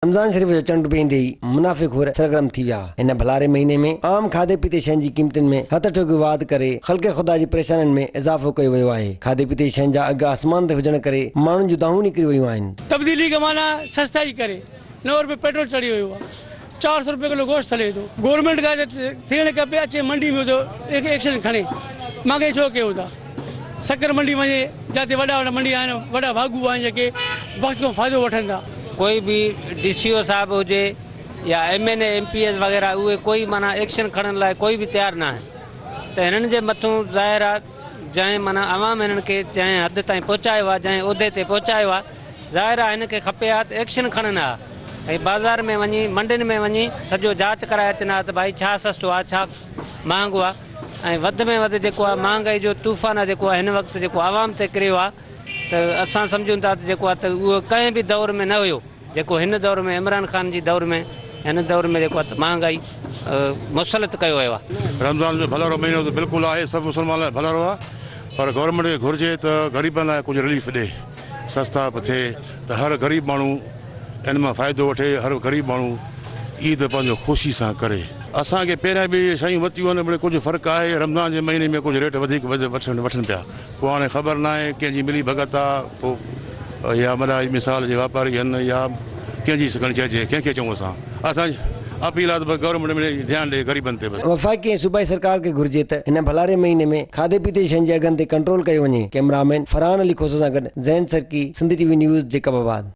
رمضان شريف جو چنڊ به ايندي ئي منافع خور سرگرم ٿي ويا. هن ڀلاري مهيني ۾ عام کاڌي پيتي شين جي قيمتن ۾ هٿ ٺوڪيو واڌ ڪري خلق خدا جي پريشانين ۾ اضافو ڪيو ويو آهي. کاڌي پيتي جي شين جا اگهه آسمان تي هجڻ ڪري ماڻهن جون دانهون نڪري ويون آهن. تبديلي کي معنيٰ سستائي ڪري نو رپئي پيٽرول چڙهي ويو آهي، چار سئو رپئي ڪلو گوشت هلي ٿو. گورنمينٽ کان ٿيڻ کپي اچي منڊي ۾ ايڪشن کڻي، مانگي ڇو ڪيو ٿا. سکر منڊي وڃي جاتي وڏا وڏا منڊي آهن وڏا واڳو آهن جيڪي وقت کان فائدو وٺن ٿا. ڪوئي به ڊي سي او صاحب هجي يا M N A M P As وغيره اهي ڪوئي معنيٰ ايڪشن کڻڻ لاء ڪوئي به تيار ناهن ته هنن جي مٿون ظاهر آ جنهن معنيٰ عوام هنن کي جنهن حد تائين پهچايو آ جنهن عهدي تي پهچايو آ ظاهر آ هنن کي کپي ها ته ايڪشن کڻن ها ۽ بازار ۾ وڃي منڊين ۾ وڃي سڄو جاچ ڪرائي اچن ها ته ڀائي ڇا سستو آ ڇا مهانگو آ. ۽ وڌ ۾ وڌ جيڪو آهي مهانگائي جو طوفان آهي جيڪو آهي هن وقت جيڪو عوام تي ڪريو آهي ته اسان سمجهون ٿا ته جيڪو آهي ته اهو ڪنهن به دور ۾ نه هيو جيڪو هن دور ۾ عمران خان جي دور ۾ هن دور ۾ جيڪو آهي ته مهانگائي مسلط ڪيو ويو آهي. رمضان جو ڀلرو مهينو ته بلڪل آهي سڀ مسلمانن لاء ڀلرو آهي پر گورنمينٽ کي گهرجي ته غريبن لاء ڪجهه رليف ڏي سستا به ٿئي ته هر غريب ماڻهو ان مان فائدو وٺي هر غريب ماڻهو عيد پنهنجو خوشي سان ڪري. اسان کي پهريان به اهي شيون وتيون آهن مڙي ڪجهه فرق آهي رمضان جي مهيني ۾ ڪجهه ريٽ وڌيڪ وٺن پيا پوء هاڻي خبر ناهي ڪنهن جي ملي ڀڳت آ پوء يا مڙا مثال جي واپاري هن يا ڪنهن جي سگهڻ چئجي ڪنهن کي چئون اسان اسان جي اپيل آ ته بس گورنمينٽ مڙي ڌيان ڏي غريبن تي بس. وفاقي ۽ صوبائي سرڪار کي گهرجي ته هن ڀلاري مهيني ۾ کاڌي پيتي جي شين جي اگهن تي ڪنٽرول ڪيو وڃي ڪئميرامين فرحان علي کوسو سان گڏ Zain Sarki Sindh T V news Jacob آباد.